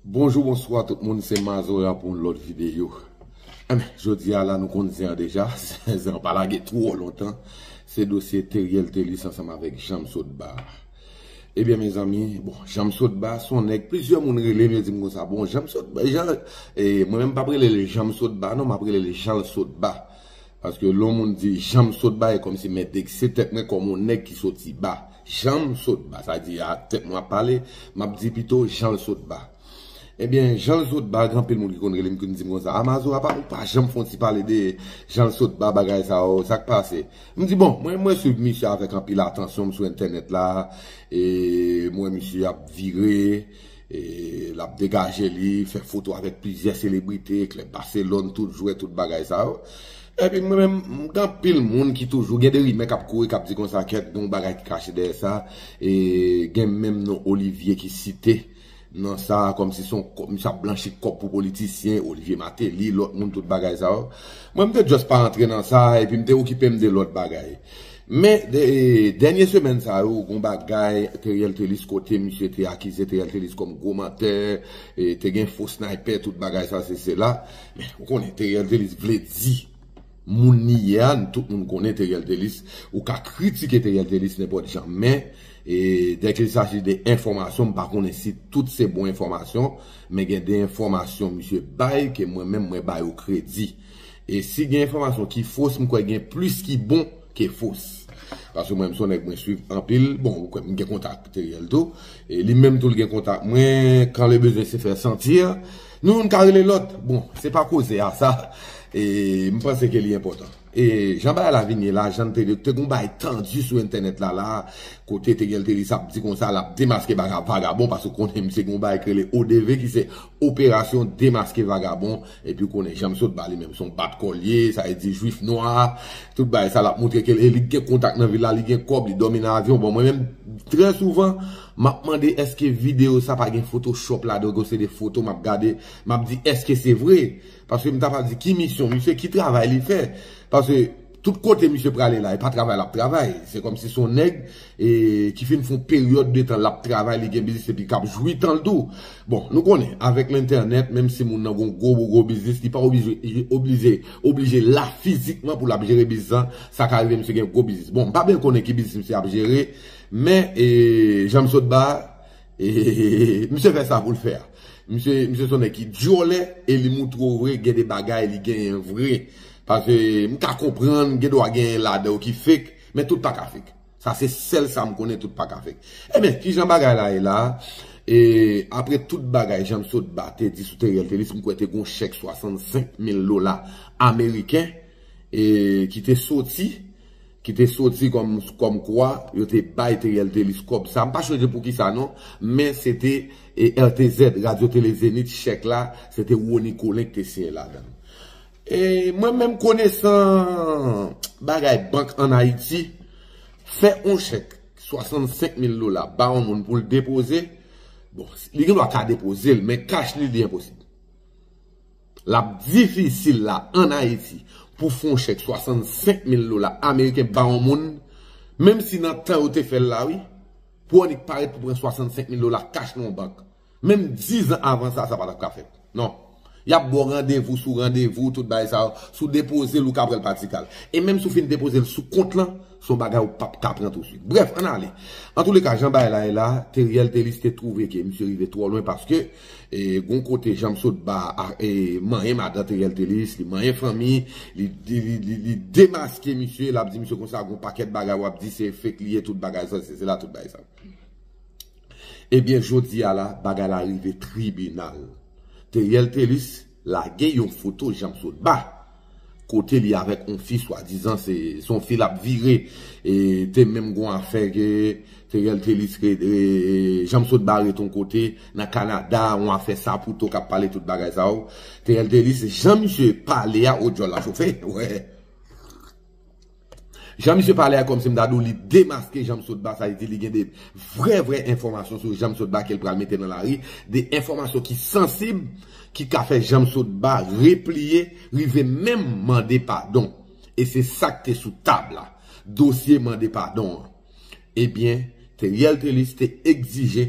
Bonjou bonswa tout moun se mazora pou yon lòt videyo Enben jodi a la nou konn zen an deja Zen an pa lage twò lontan Se dosye Teriel Thelus ansanm avèk Janm sot ba Ebyen mezanmi bon Janm sot ba se yon nèg plizyè moun rele m yo di m konsa bon Janm sot ba Jan mwen menm m p ap rele l Janm sot ba non m ap rele l Jan l sot ba Paske lè yon moun di Janm sot ba e kòmsi men vekse tèt mwen kòm yon nèg ki soti ba. Janm sot ba, sa di a tèt mwen ap pale, m ap di pito janl sot ba. Ebyen, janl sot ba, gen anpil moun ki konn rele m ki konn di m konsa, a Mazo apa ou pa janm fon ti pale de janl sot ba bagay sa yo, sa k pase? M di bon, mwen mwen swiv misye avèk anpil atansyon, m sou entènèt la, e m wè misye ap vire. E lap degaje li, fè foto avèk plizyè selebrite, klèb Barcelone, tout jwè, tout bagay sa yo. Epi mwen menm, gen anpil moun ki toujou, gen de rimè kap kouri, kap di konsa kèt, gen yon bagay ki kache dèyè sa. E gen menm non Olivier ki site nan sa, kòm si son, misye ap blanchi kòb pou politisyen, Olivier Martelly, lòt moun, tout bagay sa yo. Mwen mte just pa antre nan sa, epi mte okipem de lòt bagay. Men, dènye semèn sa yo, gon bagay Theriel Thelus kote misye te akize Theriel Thelus kòm gwo mantè, te gen fo snaypè, tout bagay sa se sela. Men, ou konnen Theriel Thelus vle di moun li ye a, nou tout moun konnen Theriel Thelus, ou ka kritike Theriel Thelus nenpòt jan. Men, dè kil saji de enfòmasyon, m pa konnen si tout se bon enfòmasyon, men gen de enfòmasyon misye bay ke mwen menm mwen ba yo kredi. E si gen enfòmasyon ki fos m kwè gen plis ki bon ke fos. Paske mwen m son nèg mwen swiv anpil, bon ou kwè m gen kontak Teriel tou, e li menm tou l gen kontak mwen, quand le besoin se faire sentir, nou youn ka rele lòt, bon se pa koze a sa, e m panse ke li enpòtan. E jan bagay la vin ye la, jan n te di, te gen yon bagay tandi sou entènèt la la, kote Teriel te di sa pou di konsa, l ap demaske vagabon, paske w konnen misye gen yon bagay ki rele ODV ki se Operasyon Demaske Vagabon. Epiw konnen janm sot bali menm son bat kol ye sa e di jwif nwa tout bagay sa lap moutre kel e li gen kontak nan vil la li gen kob li domi nan avyon bon mwen menm trè souvan map mande eske video sa pa gen foto chop ladan ke se de foto map gade map di eske se vre paske mta pral di ki misyon misye ki travay li fè paske. Tout kote misye prale la e pa travay lap travay, se kòmsi son nèg ki fin fon peryòd de tan lap travay li gen biznis epi kap jwi tanl tou. Bon nou konnen avèk lentènèt menm si moun nan gon gwo gwo biznis li pa oblije oblije la fizikman pou lap jere biznis lan, sa ka rive misye gen gwo biznis. Bon mpa byen konnen ki biznis misye ap jere men janm sot ba Hehehehe misye fè sa poul fè a misye son nèg ki dyòlè e li moutre w vre gen de bagay li genyen vre paske m ka konprann gen dwa genyen ladan yo ki fake men tout pa ka fake sa se sèl sa m konnen tout pa ka fake enben kijan bagay la ye la e apre tout bagay jan Sotba te di sou Teriel Thelus m kwè te gon chèk 65 mil dola ameriken e ki te soti. ki te soti kòm kwa yo te bay Theriel Thelus kòb sa, m pa chonje pou kisa non, men se te RTZ, Radio Télé Zénith, chèk la se te Rony Colin ki te siyen ladan. E mwen menm konesan bagay bank an Ayiti, fè yon chèk 65 mil dola ba yon moun pou l depoze, bon, li gen dwa ka depoze l, men kach li, li enposib. L ap difisil la an Ayiti pou fon chèk 65 mil dola ameriken ba yon moun, menm si nan tan yo te fè l la wi, pou w annik parèt pou pran 65 mil dola kach nan yon bank. Menm dizan avan sa, sa pa t ap ka fèt. Non. Y ap ba w randevou sou randevou, tout bagay sa yo. Si w depoze l, ou ka pran l pa ti kal. E menm si w fin depoze l sou kont lan, se yon bagay ou p ap ka pran tousuit. Brèf, ann ale. Antouleka, jan bagay la ye la, Theriel Thelus te twouve ke misye rive twò lwen paske, E gon kote janm sot ba e manyen madan Theriel Thelus li manyen fanmi li li demaske misye lap di misye konsa gon pakèt bagay wap di se fake li ye tout bagay sa se la tout bagay sa Ebyen jodi a la bagay la rive tribinal Theriel Thelus Lage yon foto Janmsotba kote li avèk on fi swadizan se son fi lap vire e te menm gon afè ke Theriel Thelus ret e Janmsotba ret on kote nan Canada on afè sapouto kap pale tout bagay sa yo Theriel Thelus jan misye pale a oh djòl la chofe wè. Jan misye pale a kòmsi m ta di w li demaske Janmsotba sa vle di li gen de vrè vrè enfòmasyon sou Janmsotba ke l pral mete nan lari, de enfòmasyon ki sansib ki ka fè Janmsotba repliye rive menm mande padon e se sa k te sou tab la dosye mande padon an ebyen Theriel Thelus te egzije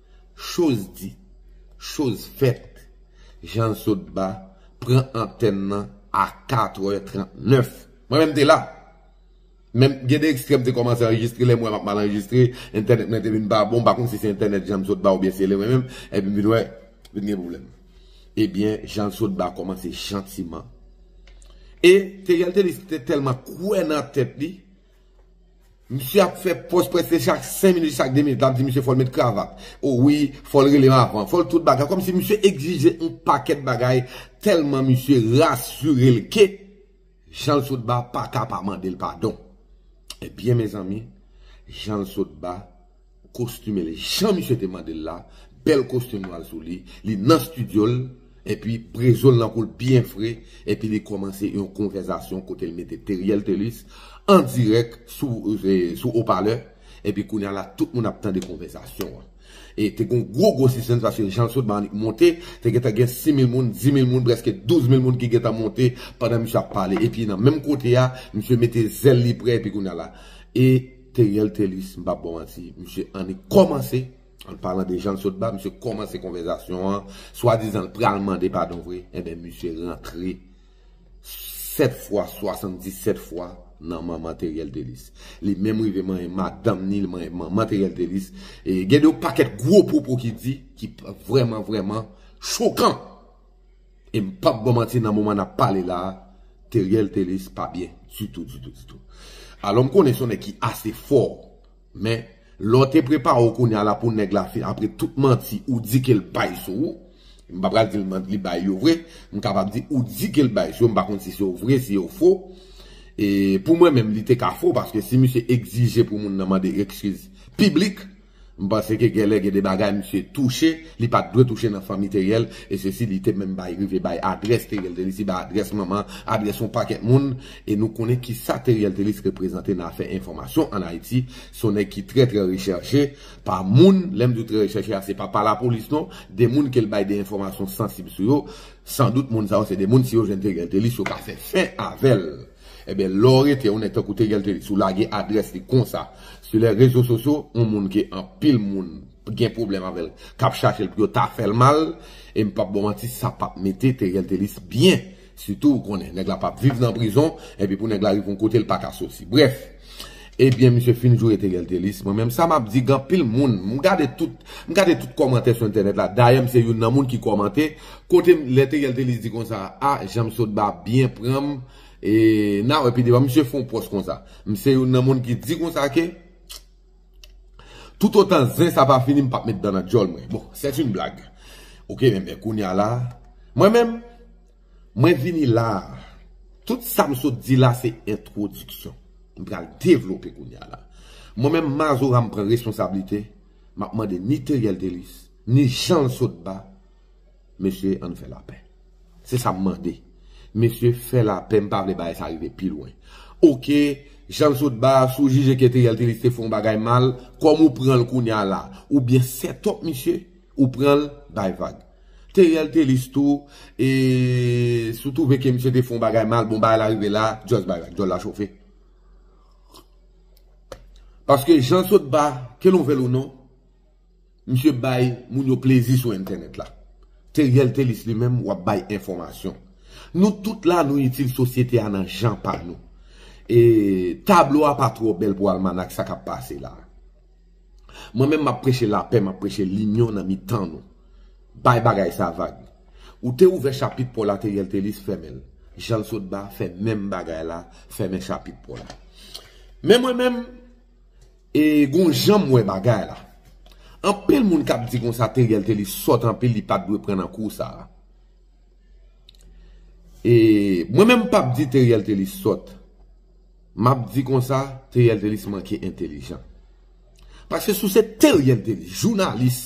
Choz di, choz fèt, Jan Zodba pran antèn nan a 4 è 39. Mwen menm te la. Men, gen de ekstrè m te kòmanse anrejistre, lè m wè m ap mal anrejistre, entènèt mwen te vin pa bon, m pa konn si se entènèt Jan Zodba oubyen se li mwen menm, epi m vin wè, vin gen pwoblèm. Ebyen, Jan Zodba kòmanse jantiman. E, Theriel Thelus te tèlman kwè nan tèt li, Misye ap fè pòz prèske chak 5 minit, chak 2 minit, lap di misye fòl met kravat, o wi, fòl relem avan, fòl tout bagay, kòmsi misye egzije yon pakèt bagay tèlman misye rasurel ke Janlsotba paka pa mandel padon. Ebyen mezanmi, Janlsotba Kostim el jan misye te mandel la bèl kostim nwal sou li li nan studiol epi brezol nan koul byen fre epi li kòmanse yon konvèzasyon kotel mete Teriel Thelus an dirèk sou sou opalè epi kounya la tout moun ap tande konvèzasyon an e te gon gwo gwo sispanns paske janl sot ba annik monte te gentan gen 6000 moun 10000 moun prèske 12000 moun ki gentan monte pandan misye ap pale epi nan menm kote a misye mete zèl li prè epi kounya la e Theriel Thelus m pap baw manti misye annik kòmanse an palan de janl sot ba misye kòmanse konvèzasyon an swadizan l pral mande padon vre enben misye rantre 7 fwa 77 fwa nan manman Theriel Thelus li menm rive manyen madanm ni li manyen manman Theriel Thelus e gen de yon pakèt gwo pwopo ki di ki vrèman vrèman chokan. E m pap baw manti nan moman nap pale la a Theriel Thelus pa byen ditou ditou ditou. Alò m konnen se yon nèg ki ase fò men lè w te prepare w kounya la pou nèg la fin apre tout manti ou di ke l bay sou ou, m pa pral di l li bay yo vre, m kapab di ou di ke l bay sou yo, m pa konn si se yo vre si yo fo. E pou mwen menm li te ka fo paske si misye egzije pou moun nan mande ekskiz piblik. M panse ke gèlè gen de bagay misye touche li pat dwe touche nan fanmi Teriel e se si li te menm bay rive bay adrès Teriel te resi bay adrès manman adrès yon pakèt moun e nou konnen kisa Teriel te resi reprezante nan afè enfòmasyon an Ayiti se yon nèg ki trè trè rechèche pa moun lè m di w trè rechèche a se pa pa lapolis non de moun ke l bay de enfòmasyon sansib sou yo san dout moun sa yo se de moun si yo jwenn Teriel te resi yo ka fè fen avè l. Ebyen lè w rete yon nèg tankou Tegel te di si w lage adrès li konsa sou lè rezo sosyo yon moun ke anpil moun gen pwoblèm avè l k ap chache l pou yo ta fè l mal e m p ap ba w manti sa p ap mete Tegel Telis byen sitou ou konnen nèg la p ap viv nan prizon epi pou nèg la rive yon kote l pa ka soti brèf. Ebyen misye fin joure Theriel Thelus mwen menm sa map di gen anpil moun m gade tout m gade tout kòmantè sou entènèt la dayè m se youn nan moun ki kòmante kote m lè Theriel Thelus di konsa a janm sot ba byen pran m e na wè pi devan misye fon pòs konsa m se youn nan moun ki di konsa ke toutotan zen sa pa fini m pap met dan nan dyòl mwen bon sèt yn blag ok men kounya la mwen menm. Mwen vini la a. Tout sa m sot di la se entwodiksyon. M pral devlope kounye a la. Mwen menm Mazora m pran responsablite, m ap mande ni Theriel Thelus, ni Jean Sotba, Mesye an n fè lapè. Se sa m mande. Mesye fè lapè, m pa vle bagay sa rive pi lwen. Oke, Jean Sotba, si w jije ke Theriel Thelus te fè yon bagay mal, kòman ou pran l kounye a la? Oubyen sètòp misye, ou pran l, bay vag. Theriel Thelus tou e si w twouve ke misye te fè yon bagay mal bon bagay la rive la just bay like dyòl la chofe paske jan sotba ke nou vè l ou non misye bay moun yo plezi sou entènèt la Theriel Thelus li menm wap bay enfòmasyon nou tout la nou itil sosyete a nan jan pa nou e tablo a pa twò bèl pou almanak sa kap pase la Mwen menm map preche lapè map preche linyon nan mitan nou bay bagay sa vag ou te ouvè chapit paw la Theriel Thelus fèmenl janl sot ba fè menm bagay la fèmen chapit paw la men mwen menm e gon janm wè bagay la anpil moun kap di konsa Theriel Thelus sòt anpil li pat dwe pran nan kou sa e mwen menm pap di Theriel Thelus sòt. Map di konsa Theriel Thelus manke entelijan. Paske si w se Theriel Thelus jounalis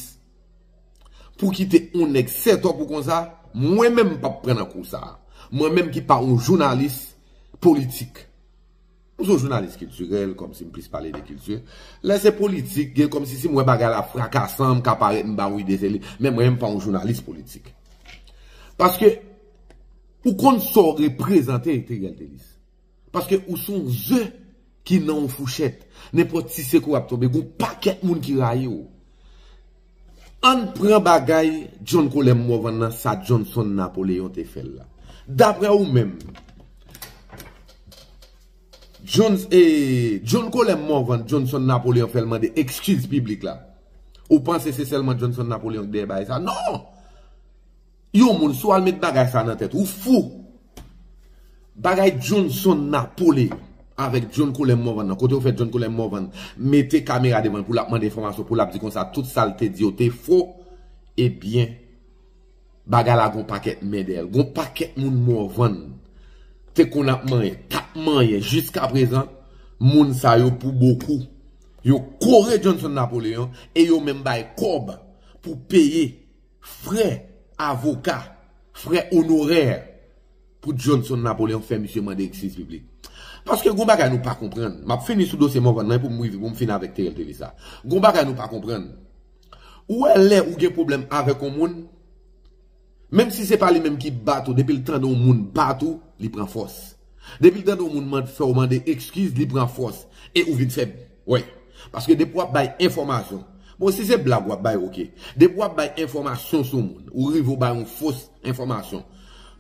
pou kite on nèg sètop ou konsa, mwen menm m pap pran nan kou sa. Mwen menm ki pa on jounalis politik. M son jounalis kiltirèl kòmsi m plis pale de kilti. Lè se politik gen kòmsi si m wè bagay la frakasan m ka parèt m ba ou ide se li. Men mwen menm m pa on jounalis politik. Paske ou konn sa w reprezante Theriel Thelus. Paske ou se yon ze ki nan yon fouchèt. Nenpòt ti sekou w ap tonbe. Gen yon pakèt moun ki rayi w. Ann pran bagay John Colem Morvan nan sa Johnson Napoléon te fè l la. Daprè ou menm, John Colem Morvan, Johnson Napoléon fè l mande ekskiz piblik la. Ou panse se sèlman Johnson Napoléon ki dèyè bagay sa? Non! Yon moun si w al met bagay sa nan tèt ou w fou. Bagay Johnson Napole avèk John Colem Morvan nan kote yo fè John Colem Morvan mete kamera devan l pou l ap mande enfòmasyon pou l ap di konsa tout sa l te di yo te fo ebyen bagay la gon pakèt men dèyè l gon pakèt moun Morvan te konn ap manyen k ap manyen jiskaprezan moun sa yo pou bokou yo kore Johnson Napoleon e yo menm bay kòb pou peye Frè avoka, frè onorè pou Johnson Napoleon fè misye mande ekskiz piblik. Paske gon bagay nou pa konprann. Map fini sou dosye Morvan nan epoum rive poum fini avèk Theriel TV sa. Gon bagay nou pa konprann. Ou wè lè ou gen pwoblèm avèk on moun, menm si se pa li menm ki bat ou depil tande on moun bat ou, li pran fòs. Depi tande yon moun mande fèw mande ekskiz li pran fòs e ou vin fè wè paske depi wap bay enfòmasyon bon si se blag wap bay ok depi wap bay enfòmasyon sou moun ou rive ou bay yon fos enfòmasyon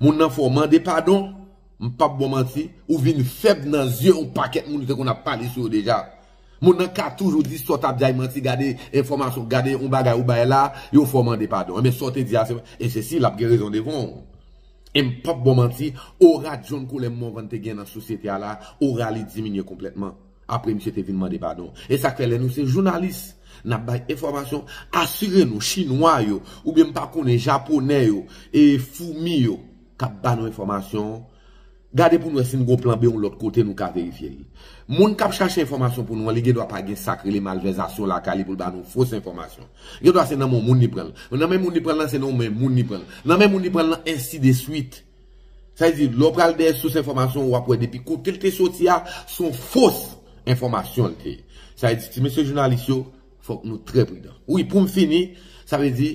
moun nan fèw mande padon m pap baw manti ou vin fèb nan zye yon pakèt moun ou te konn ap pale sou yo deja moun nan ka toujou di sa w tap di a yon manti gade enfòmasyon gade yon bagay ou bay la yo fèw mande padon enben sa w te di a se e se si lap gen rezon devan w. M pap ba w manti, ora John Colem Morvan te gen nan sosyete a la, ora li diminye konplètman, apre misye te vin mande padon. E sa k fè lè nou se jounalis, n ap bay enfòmasyon, asire nou Chinwa yo, oubyen m pa konnen Japonè yo, e foumi yo k ap ba nou enfòmasyon, gade pou n wè si n gen yon plan B yon lòt kote nou ka verifye li. Moun k ap chache enfòmasyon pou nou an, li gen dwa pa gen sa k rele malvèzasyon lakay li pou l ba nou fos enfòmasyon. Gen dwa se nan men yon moun li pran l. Nan men moun li pran l lan, se nan yon men moun li pran l. Nan men moun li pran l lan, ensi de swit. Sa vle di, lè w pral dèyè sous enfòmasyon, w ap wè depi kote l te soti a, se yon fos enfòmasyon l te ye. Sa vle di, ti mesye jounalis yo, fòk nou trè pridan. Wi, pou m fini, sa vle di,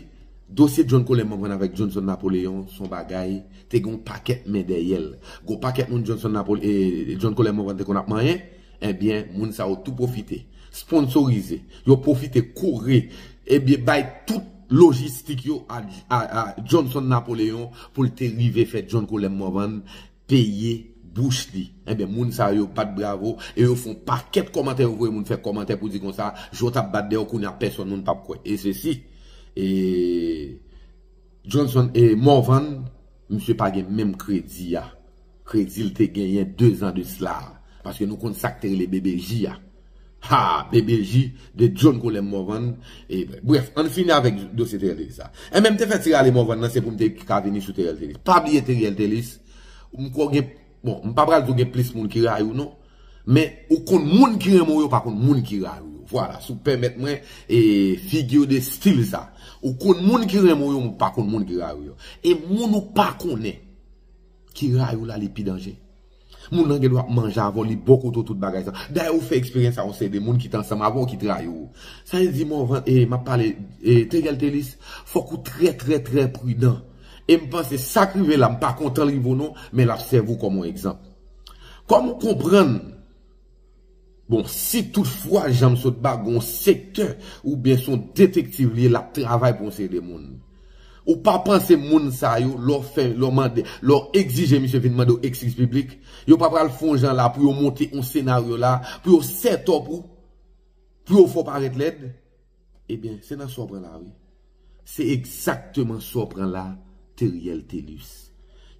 dosye John Colin Morvan avèk Johnson Napoléon se yon bagay, te gen yon pakèt men dèyè l. Gen yon pakèt moun Johnson Napoléon, John Colin Morvan te konn ap manyen. Ebyen moun sa yo tou pwofite sponsorize yo pwofite kouri ebyen bay tout lojistik yo a Johnson Napoleon pou l te rive fè John Colem Morvan peye bouch li ebyen moun sa yo bat bravo e yo fon pakèt kòmantè yo voye moun fè kòmantè pou di konsa je w tap bat dèyè w kounye a pèsòn moun pap kwè e sesi e Johnson e Morvan. Misye pa gen menm kredi a kredi l te genyen 2 zan de sla a. Paske nou konn sa k te rele BBJ a. Haa! BBJ de John Colem Morvan e brèf ann fini avèk dosye Theriel Thelus la. Enben m te fè ti rale Morvan nan se pou m te ka vini sou Theriel Thelus. Pa bliye Theriel Thelus m kwè w gen Bon, m pa pral di w gen plis moun ki rayi w non, men ou konn moun ki renmen w yo pa konn moun ki rayi w yo. Vwala, si w pèmèt mwen e figure de style sa. Ou konn moun ki renmen w yo, men ou pa konn moun ki rayi w yo. E moun ou pa konnen ki rayi w la li pi danje. Moun nan gen dwa ap manje avè w, li bo kote w tout bagay sa. Dayè ou fè eksperyans sa yon seri de moun ki te ansanm avè w ki te rayi w. Sa vle di Morvan, e m ap pale, e Theugeltelis, fòk ou trè trè trè pridan. E m panse sa k rive la m pa kontan l rive w non, men l ap sèvi w kòm yon egzanp. Kòm ou konprann, bon, si tout fwa jan m sot ba gon sektè oubyen son detektiv li ye l ap travay pou yon seri de moun. Ou pa panse moun sa yo lè w fè lè w mande lè w egzije misye vin mande w ekskiz piblik, yo pa pral fon jan la pou yo monte yon senaryo la pou yo sètòp ou pou yo fè w parèt lèd? Ebyen se nan sa w pran la wi. Se egzakteman sa w pran la Theriel Thelus.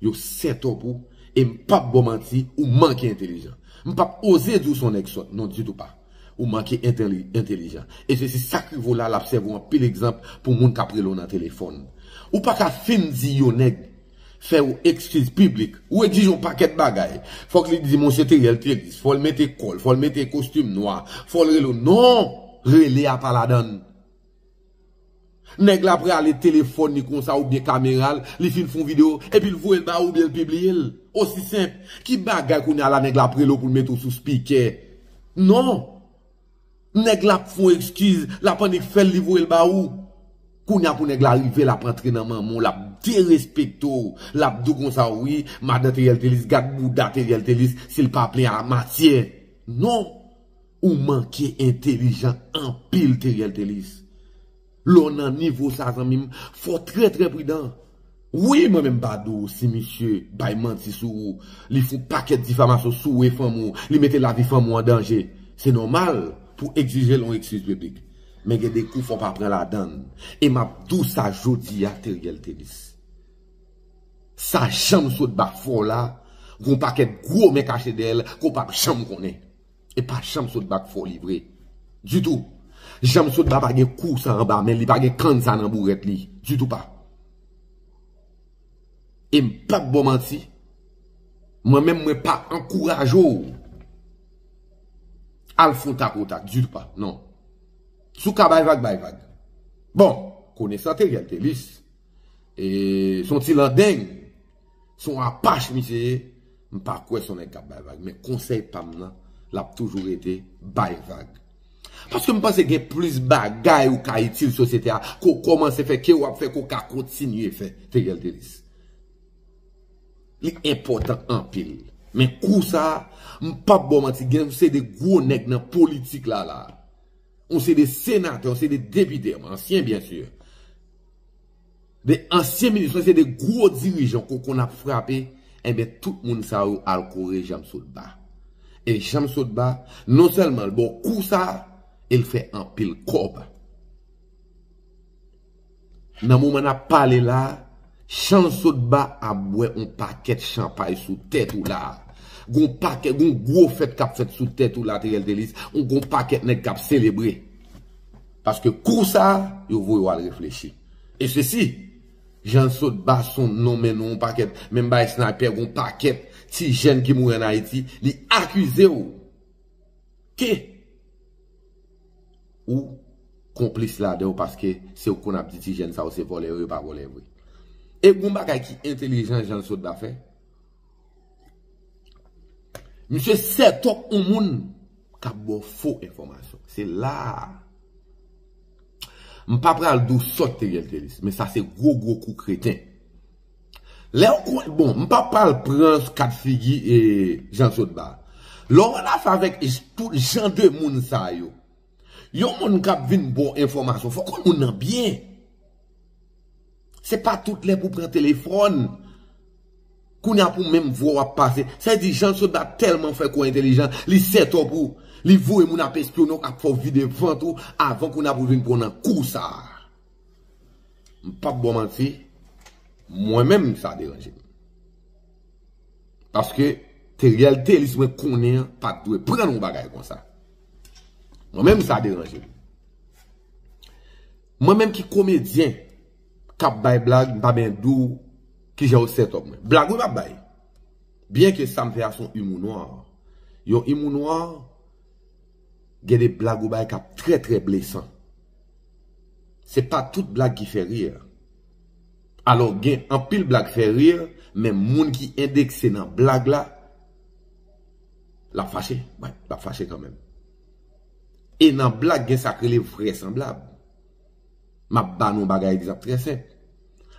Yo setop ou e m pap ba w manti ou manke entelijan. M pap oze di w se yon nèg sòt non ditou pa. Ou manke entelijan. E se si sa k rive w la l ap sèvi w anpil egzanp pou moun k ap rele w nan telefòn. Ou pa ka fin di yon nèg fè yon ekskiz piblik, ou ekzije yon pakèt bagay, fòk li di monsye Theriel Théris, fòl mete kòl, fòl mete kostim nwa, fòl rele w non! Rele a pa ladann. Nèg la prale telefòn li konsa oubyen kamera l, li fin fè yon video, epi l voye l ba ou oubyen l pibliye l. Osi senp. Ki bagay kounya la nèg la ap rele w pou l mete w sou spikè? Non! Nèg la ap fon ekskiz, lap annik fèl li voyel ba ou. Kounya pou nèg la rive lap antre nan manman w lap derespekte w, lap di w konsa wi, madan Theriel Thelus gad bouda Theriel Thelus sil pa plen a matyè. Non! Ou manke entelijan anpil Theriel Thelus. Lè w nan nivo sa zanmi m, fò w trè trè pridan. Wi mwen menm pa di w si misye bay manti sou ou, li fout pakèt difamasyon sou ou e fanmi w, li mete lavi fanmi w an danje, se nòmal pou w egzije l yon ekskiz piblik. Men gen de kou fò w pa pran ladan l. E m ap di w sa jodi a Theriel Thelus. Sa janm sot bafè w la, gen yon pakèt gwo men kache dèyè l ke w p ap janm konnen. E pa Janmsotba k foli vre. Ditou. Janmsotba pa gen kou sa anba men li, li pa gen kann sa nan bourèt li. Ditou pa. E m pa p ba w manti. Mwen menm mwen pa ankouraje w. Al fon tak o tak. Ditou pa. Non. Si w ka bay vag, bay vag. Bon. Konesante Gèltelis. E son ti landeng. Son apach misye ye, m pa kwè son nèg kap bay vag men konsèy pam nan lap toujou rete bay vag. Paske m panse gen plis bagay ou ka itil sosyete a ke w kòmanse fè ke wap fè ke w ka kontinye fè Theriel Thelus. Li enpòtan anpil. Men kou sa, m pap ba w manti gen yon seri de gwo nèg nan politik la la. Yon seri de senatè, yon seri de depite, ansyen byen sur. 2 ansyen minis lan se 2 gwo dirijan kou konn ap frape enben tout moun sa yo al kore Janmsotba e Janmsotba non sèlman l bon kou sa e l fè anpil kòb nan moman n ap pale la Janmsotba ap bwè yon pakèt chanpay sou tèt ou la gon pakèt gon gwo fèt k ap fèt sou tèt ou la Theriel Thelus yon gon pakèt nèg k ap selebre. Paske kou sa a, yo voye w al reflechi. E sesi, Jan sot bason non men nou yon pakèt, menm bay snaypè gon pakèt ti jèn ki mouri an Ayiti, li akize w ke ou konplis ladan yo paske se ou k konn ap di ti jèn sa yo se vòlè yo, yo pa vòlè vre. E gon bagay ki entelijan Jan sot ba fè? Misye sètop yon moun kap baw fo enfòmasyon. Se la a. M pa pral di w sòt Teriel te di, men sa se gwo gwo kou kreten. Lè w kwè bon, m pa pral pran kat figi Jean Claude ba. Lè w anafè avèk tout jan de moun sa yo. Yon moun kap vin baw enfòmasyon fòk ou konn moun nan byen. Se pa tout lè pou pran telefòn. Kounya pou menm vwa w ap pase. Sa vle di Jean Sotba tèlman fè kouw entelijan, li sètò pou li voye moun ap espyone w, ap fè w vide vant ou avan kounya pou l vin pran w nan kou sa a. M pap baw manti, mwen menm sa deranje m. Paske Theriel Thelus mwen konnen an pat dwe pran yon bagay konsa. Mwen menm sa deranje m. Mwen menm ki komedyen kap bay blag m pa ben di w kijan yo sètòp mwen. Blag wi m ap bay. Byen ke sa m fè a son imou nwa. Yon imou nwa gen de blag ou bay kap trè trè blesan. Se pa tout blag ki fè rir. Alò gen anpil blag fè rir men moun ki endekse nan blag la. Lap fache but lap fache kanmenm. E nan blag gen sak rele vrèsanblab. Map ba nou bagay egzanp trè senp.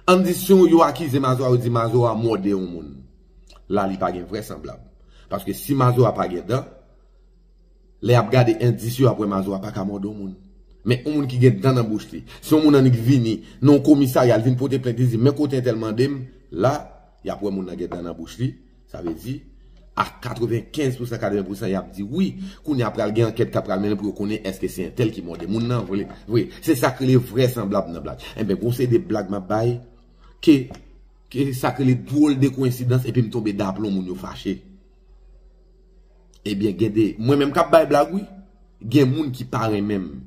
Ann di si yo akize Mazora yo di Mazora mòde yon moun. La li pa gen vrèsanblab. Paske si Mazora pa gen dan, lè yap gade endis yo yap wè Mazora paka mòde yon moun. Men yon moun ki gen dan nan bouch li. Si yon moun annik vini nan yon komisarya li vin pote plent li di men kote entèl mandem, la yap wè moun nan gen dan nan bouch li. Sa vle di, a 95 pousan 80 pousan y ap di wi. Kounye a pral gen ankèt k ap pral mennen pou yo konnen èske se entèl ki mòde moun nan vre. Se sa k rele vrèsanblab nan blag. Enben, gen yon seri de blag m ap bay ke sa k rele dwòl de koyensidans epi m tonbe daplon moun yo fache. Ebyen, gen de mwen menm k ap bay blag wi. Gen moun ki pa renmen m.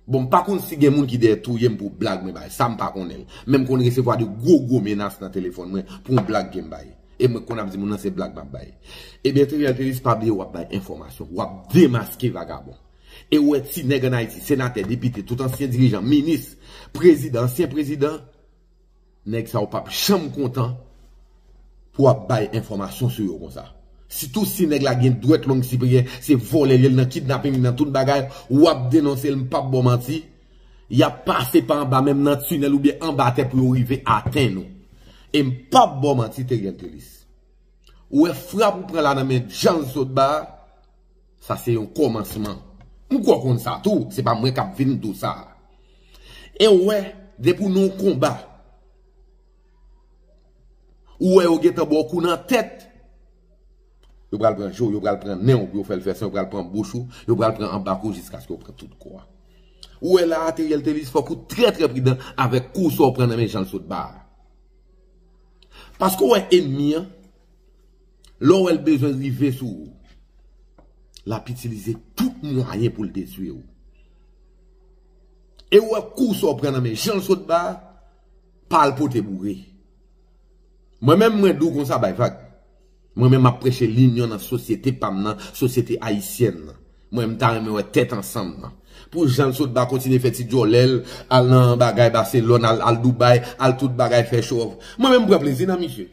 Bon m pa konn si gen moun ki dèyè touye m pou blag mwen bay, sa m pa konnen l. Men m konn resevwa de gwo gwo menas nan telefòn mwen pou yon blag ke m bay. E mwen konn ap di moun nan se blag m ap bay. Ebyen Theriel Thelus pa bliye w ap bay enfòmasyon, w ap demaske vagabon. E ou wè ti nèg an Ayiti, senatè, depite, tout ansyen dirijan, minis, prezidan, ansyen prezidan, Nèg sa yo pap janm kontan pou ap bay enfòmasyon sou yo konsa. Sitou si nèg la gen dwèt long siperyè, se vòlè li ye, li nan kidnaping, li nan tout bagay, wap denonse l, m pap ba w manti, yap pase pa anba menm nan tinèl oubyen anba tè pou yo rive atenn ou. E m pap ba w manti Theriel Thélis. Ou wè frap ou pran la nan men Djanlsotba a? Sa se yon komansman. Pouki w konn sa tou, se pa mwen kap vin di w sa. E ou wè, depi w nan yon konba, ou wè yo gentan ba w kou nan tèt, yo pral pran je w, yo pral pran nen w pou yo fè l fè san, yo pral pran bouch ou, yo pral pran anba kò w jiskaske yo pran tout kò a. Ou wè la a, Theriel Thelus, fòk ou trè trè pridan avèk kou sa w pran nan men Jean Lsotba a. Paske ou wè enmi an. Lè w wè l bezwen rive sou ou, l ap itilize tout mwayen pou l detwi ou. E ou wè kou sa w pran nan men jan l sot ba a, pa al pote boure. Mwen menm mwen di w konsa bay vag. Mwen menm m ap preche linyon nan sosyete pa m nan, sosyete ayisyèn nan. Mwen m ta renmen wè tèt ansanm nan. Pou jan l sot ba kontinye fè ti djòlè l, al nan bagay Baselòn, al Doubay, al tout bagay fè chowòf. Mwen menm m pran plezi nan misye.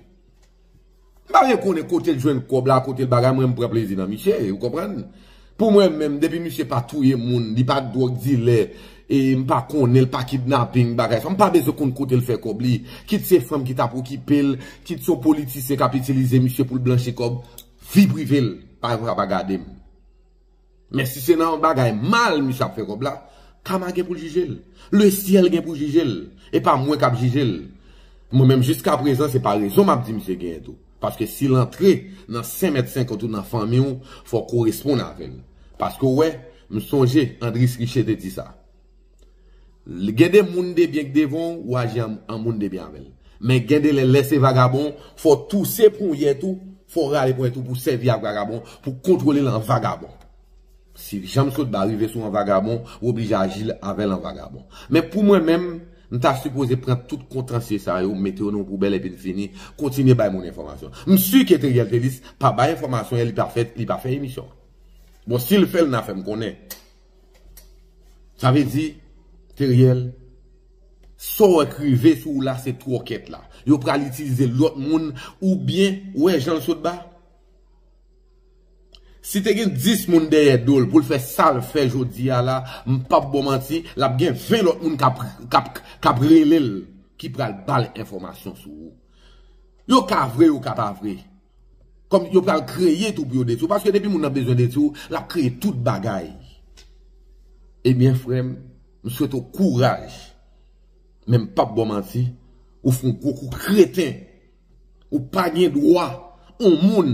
M pa vle konnen kote l jwenn kòb la, kote l bagay, mwen m pran plezi nan miche, ou konprann. Pou mwen menm, depi miche pa touye moun, li pa dwòg dilè, e m pa konnen l, pa kidnaping, bagay sa, m pa bezwen konn kote l fè kòb li. Kit se fanm ki t ap okipe l, kit se yon politisyen k ap itilize miche pou l blanchi kòb, vi prive l, pa yon fwa pa gade m. Men si se nan yon bagay mal misye ap fè kòb la, Kama gen pou l jije l. Le syèl gen pou jije l. E pa mwen k ap jije l. Mwen menm jiska prezan se parezon m ap di misye genyen tou. Paske si l antre nan sen mèt senkant ou nan fanmi w, fò w koresponn avè l. Paske w wè, m sonje Andris Riche te di sa. Gen de moun debyen k devan w ou aji an moun debyen avè l. Men gen de lè, lè se vagabon, fò w touse ponyèt ou, fò w rale ponyèt ou pou w sèvi ak vagabon, pou w kontwole l an vagabon. Si janm sot ba rive sou an vagabon, ou oblije aji avè l an vagabon. Men pou mwen menm, m ta sipoze pran tout kontansye sa yo, mete yo nan yon poubèl epi n fini, kontinye bay moun enfòmasyon. M si ke Theriel Thelus pa bay enfòmasyon e li pa fè emisyon an. Bon, si l fè l nan fè m konnen. Sa vle di Teriel sa w wè k rive sou w la se twòkèt la. Yo pral itilize lòt moun ou byen ou wè jan l sot ba. Si te gen 10 moun dèyè do l pou l fè sa l fè jodi a la m p ap ba w manti l ap gen 20 lòt moun k ap rele l ki pral ba l enfòmasyon sou ou. Yo ka vre yo ka pa vre. Kòm yo pral kreye tou pou yo detwi w. Paske depi moun nan bezwen detwi w, l ap kreye tout bagay. Ebyen frè m, m swete w kouraj. Men m p ap ba w manti, ou fè yon gwo kou kreten. Ou pa gen dwa yon moun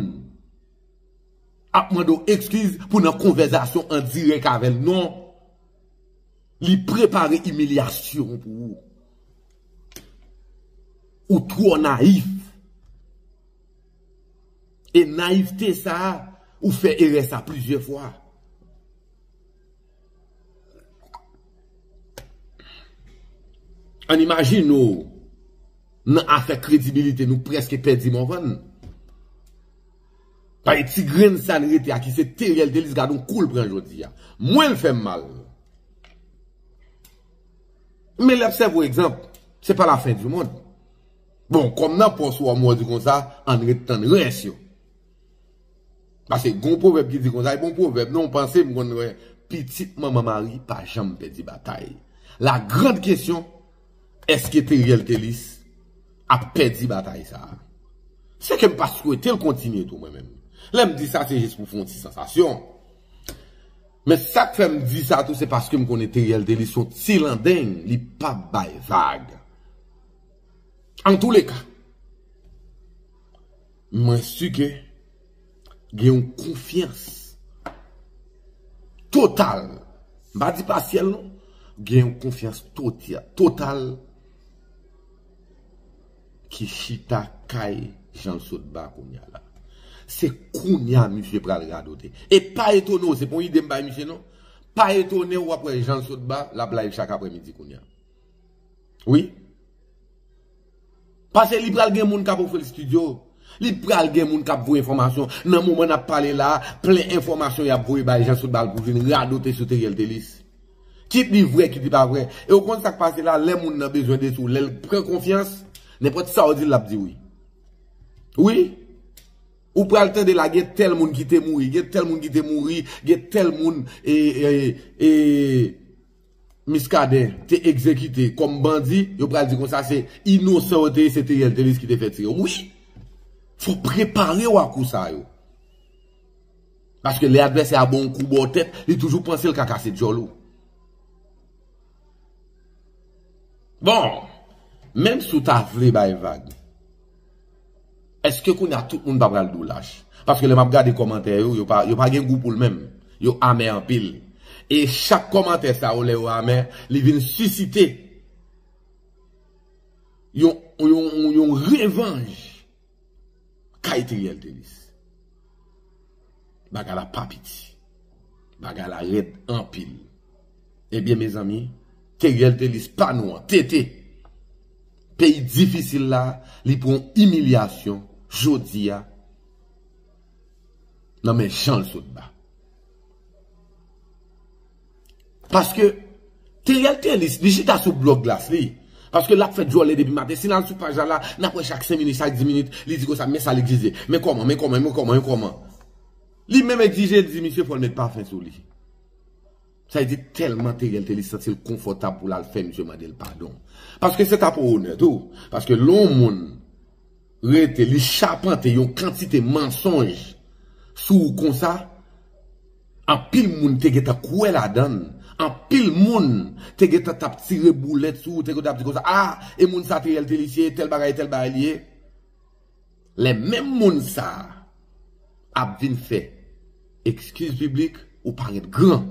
ap mande w ekskiz pou w nan konvèzasyon an dirèk avè l. Non. Li prepare imilyasyon pou ou. Ou twò nayif. E nayivte sa a, ou fè erè sa plizyè fwa. An imajine ou, nan afè kredibilite nou preske pèdi Morvan. Pale ti grenn sa n rete a ki se Theriel Thelus gad on kou l pran jodi a. Mwen l fè m mal. Men l ap sèvi w egzanp. Se pa la fen di mond. Bon kòm nan pòs ou a mòdi konsa ann ret tann rès yo. Pase gon pwovèb ki di konsa e bon pwovèb non panse m konn wè pitit manman mari pa janm pèdi batay. La grande question eske Theriel Thelus ap pèdi batay sa? Se ke m pa swete l kontinye tou mwen menm. Lè m di sa se jis pou fè yon ti sansasyon. Men sa k fè m di sa tou se paske m konnen Theriel Thelus se yon ti landeng li pap bay vag. Antouleka, mwen si ke gen yon konfyans total, m pa di pasyèl non, gen yon konfyans total ki chita kay Janlsotba kounya la. Se kounya misye pral radote. E pa etone w, se pa yon ide m bay misye non, pa etone w wap wè Janlsotba lap live chak apremidi kounya. Wi. Pase li pral gen moun kap ofri l studio. Li pral gen moun kap voye enfòmasyon. Nan moman nap pale la, plen enfòmasyon yap voye bay Jean Soutbal pou vin radote sou Theriel Thelus. Kit li vrè, kit li pa vrè. E ou konn sak pase la, lè moun nan bezwen de sou, lèl pran konfyans, nenpòt sa ou dil lap di wi. Wi. Ou pral tande la gen tèl moun ki te mouri, gen tèl moun ki te mouri, gen tèl moun e e e Miskaden te egzekite kòm bandi yo pral di konsa se inosan yo te ye se Theriel Thelus ki te fè tire wi fòk preparew a kou sa yo paske lè advèsè a bonw kou baw tèt li toujou pansel ka kase dyòl ou bon menm si w ta vle bay vag. Eske kounya tout moun pa pral diw lach? Paske lè map gade kòmantè yo, yo pa gen gou poul menm. Yo amè anpil. E chak kòmantè sa yo lè yo amè, li vin sisite yon revanj kay Theriel Thelus. Bagay la pa piti. Bagay la rèd anpil. Ebyen mezanmi, Teriel Thelus pa nou an, TT! Peyi difisil la, li pran yon imilyasyon jodi a nan men Janlsotba. Paske Theriel Thelus li chita sou blog Glass li. Paske lap fè djòlè depi maten. Si n al sou paj la la, nap wè chak 5 minit, chak 10 minit, li di konsa men sa l egzije. Men kòman, men kòman, men kòman, men kòman. Li menm egzije, li di misye fò l met pafen sou li. Sa vle di tèlman Theriel Thelus santi l konfòtab pou l al fè misye mande l padon. Paske se ta pou onè tou. Paske lè yon moun rete li chapante yon kantite mansonj sou ou konsa anpil moun te gentan kwè ladann anpil moun te gentan tap tire boulèt sou ou te gentan ap di konsa ah e moun sa Theriel Thelissier tèl bagay tèl bagay li ye lè menm moun sa ap vin fè ekskiz piblik ou paret gran.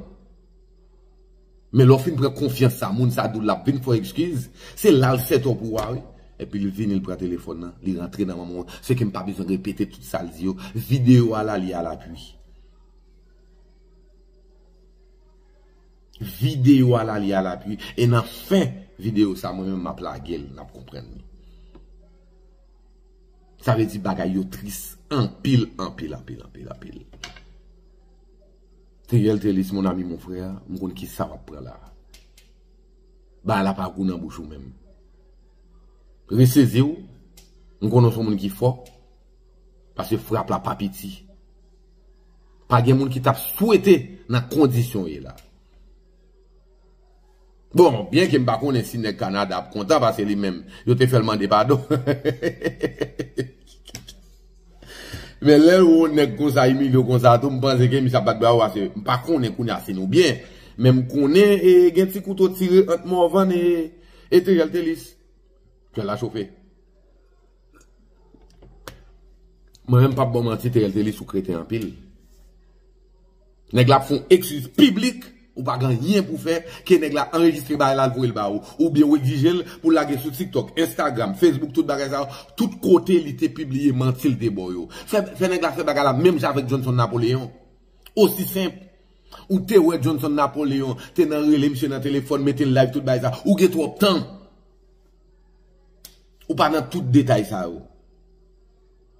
Men lè w fin pran konfyans sa moun sa di w lap vin fè w ekskiz, se la l sèt w pou w a wi. Epi li vini li pran telefòn nan, li rantre nan manman w, se ke m pa bezwen repete tout sa l di yo, videyo a la li a lapui. Videyo a la li a lapui e nan fen videyo sa mwen menm map lage l nap konprann li. Sa vle di bagay yo tris anpil anpil anpil anpil anpil. Theriel Thelis mon ami mon frère m konn kisa wap pran la bagay la pa gou nan bouch ou menm reseziw m konnen w son moun ki fò paske frap la pa piti pa gen moun ki tap swete nan kondisyon w ye la. Bon, byen ke m pa konnen si nèg Kanada ap kontan pase li menm yo te fè l mande padon. Men lè w wè yon nèg konsa imilye w konsa tou m panse ke misye ap bat bravo pase m pa konnen kounye a si nou byen men m konnen e gen ti kouto tire ant Morvan e e Theriel Thelus. Kè la chofe. Mwen menm m pap ba w manti Theriel Thelus ou kreten anpil. Nèg la ap fon ekskiz piblik ou pa gen anyen pou fè ke nèg la anrejistre bagay la al voyel ba ou oubyen ou egzijel pou lage sou tiktok, instagram, facebook tout bagay sa yo tout kote li te pibliye mantil te baw yo. Fè fè nèg la fè bagay la menm jan avèk Johnson Napoléon. Osi senp. Ou te wè Johnson Napoléon te nan rele misye nan telefòn metel live tout bagay sa ou gen twòp tan ou pa nan tout detay sa yo.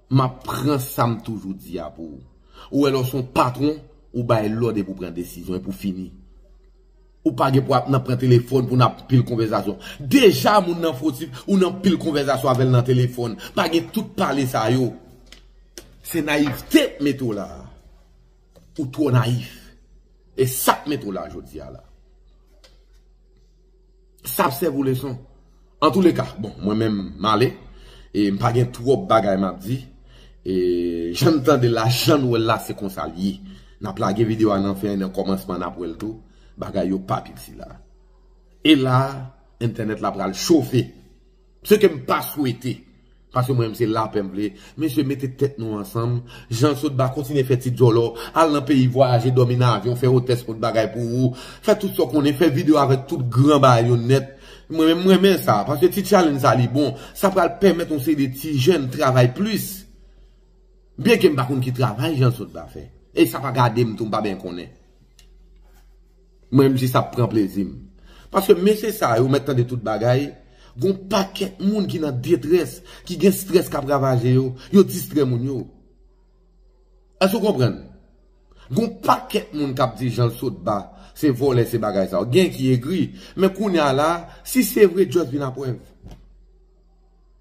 M ap pran sa m toujou di a pou ou. Ou wè lè w se yon patwon, ou bay lòd epi w pran desizyon, epi w fini. Ou pa gen pou ap nan pran telefòn pou n ap pil konvèzasyon. Deja moun nan fwotif, ou nan pil konvèzasyon avè l nan telefòn. Pa gen tout pale sa yo. Se nayivte k mete w la a. Ou twò nayif. E sa k mete w la a jodi a la. Sa ap sèvi w leson. Antouleka, bon, mwen menm m ale. E m pa gen twòp bagay m ap di. E jan n tande l la, jan n wè l la, se konsa l ye. N ap lage videyo a nan fen an, nan kòmansman an, n ap wè l tou. Bagay yo pa piti la. E la, entènèt la pral chofe. Ce ke m pa swete. Paske mwen menm se lapè m vle. Mesye mete tèt nou ansanm. Jan sot ba kontinye fè ti djòlò. Al nan peyi vwayaje dòmi nan avyon fè otès pot bagay pou ou. Fè tout sa w konnen fè video avèk tout gran bagay yo nèt. Mwen menm m renmen sa. Paske ti challenge sa li bon. Sa pral pèmèt yon seri de ti jèn travay plis. Byen ke m pa konn ki travay jan sot ba fè. E sa pa gade m tou m pa byen konnen. Mwen m jis ap pran plezi m. Paske mesye sa yo mèt tande tout bagay, gon pakèt moun ki nan detrès, ki gen strès kap ravaje yo, yo distrè moun yo. Èske ou konprann? Gon pakèt moun kap di Janlsotba se vòlè se bagay sa yo. Gen ki egri, men kounya la, si se vre just vin a prèv.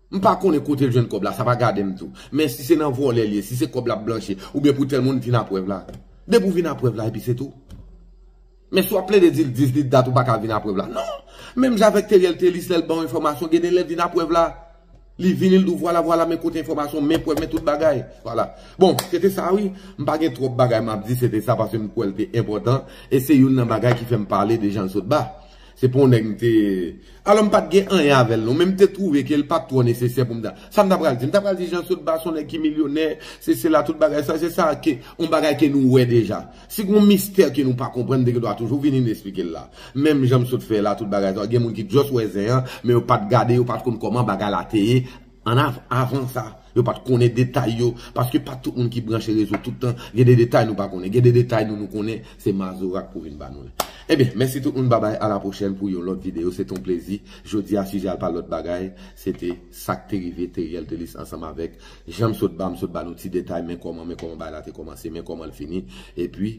M pa konnen kote l jwenn kòb la, sa pa gade m tou. Men si se nan vòlè l ye, si se kòb l ap blanchi, oubyen pou tèl moun, vin a prèv la. Depi w vin a prèv la epi se tou. Men si w ap plede di l 18 dat ou pa ka vin a prèv la. Non! Menm jan avèk Theriel Thelys lè l ban w enfòmasyon, gen de lè vin a prèv la. Li vini l di w vwala vwala men kote enfòmasyon, men prèv, men tout bagay. Vwala. Bon, se te sa wi. M pa gen twòp bagay m ap di, se te sa paske m kwè l te enpòtan e se youn nan bagay ki fè m pale de Jean-Saulba. Se pou yon nèg m te. Alò m pa t gen anyen avè l non, men m te twouve ke l pa t twò nesesè pou m ta. Sa m ta pral di? M ta pral di Jean Saulba s on nèg ki milyonè, sesi la, tout bagay sa, se sa ke, yon bagay ke nou wè deja. Si gen yon mistè ke nou pa konprann, te gen dwa toujou vini n esplike l la. Menm jan m sot fè la, tout bagay sa, gen moun ki just wè zen an, men yo pa t gade, yo pa t konn kòman bagay la te ye, An avan sa, yo pa t konnen detay yo, paske pa tout moun ki branche rezo tout tan, gen de detay nou pa konnen, gen de detay nou nou konnen, se Mazora k pou vin ba nou l. Ebyen, mèsi tout moun babay a la pwochèn pou yon lòt videyo, se te yon plezi, jodi a sijè a l pa lòt bagay, se te sa k te rive Theriel Thelus ansanm avèk, jan m sot ba, m sot ba nou ti detay men kòman, men kòman bagay la te kòmanse, men kòman l fini, epi.